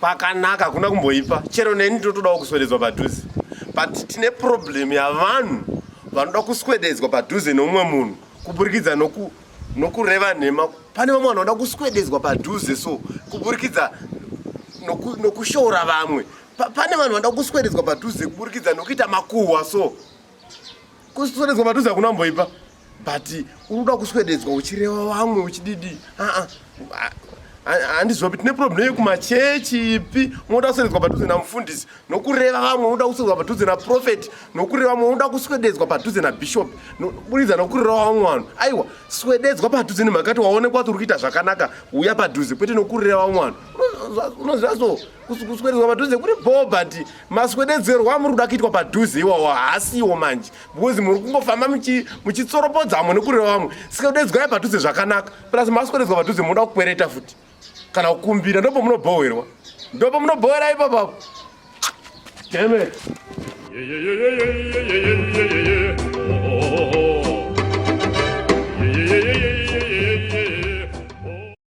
pakanaka kuna kumboipa chero neni totodawo kuswededzwa padhuze but tine problem yavanhu vanoda kuswededzwa padhuze neumwe munhu kuburikidza noku nokureva nhema pane vamwe vanhu vanoda kuswededzwa padhuze so kuburikidza nokushoora vamwe pane vanhu vanoda kuswededzwa padhuze kuburikidza nokuita makuhwa so kuswededzwa padhuze hakuna mboipa but unoda kuswededzwa uchireva vamwe uchididi aa handiziva kuti tine problem yekumachechi ipi unoda kuswededzwa padhuze namufundisi nokureva vamwe unoda kuswededzwa padhuze naprofeti nokureva vamwe unoda kuswededzwa padhuze nabishop buridza nokureva vamwe vanhu aiwa swededzwa padhuze nemhaka kuti waonekwa kuti uri kuita zvakanaka uya padhuze kwete nokureva vamwe vanhu unoziva so kuswededzwa padhuze kuri bho but maswededzerwa muri kuda kuitwa padhuze iwawo haasiwo manje because muri kungofamba muchitsoropodzamo nekurira vamwe sikadedzwai padhuze zvakanaka plus maswededzwa padhuze munoda kukwereta futi kana kukumbira ndopo munobhowerwa ndopo munobhowera ipapapo demet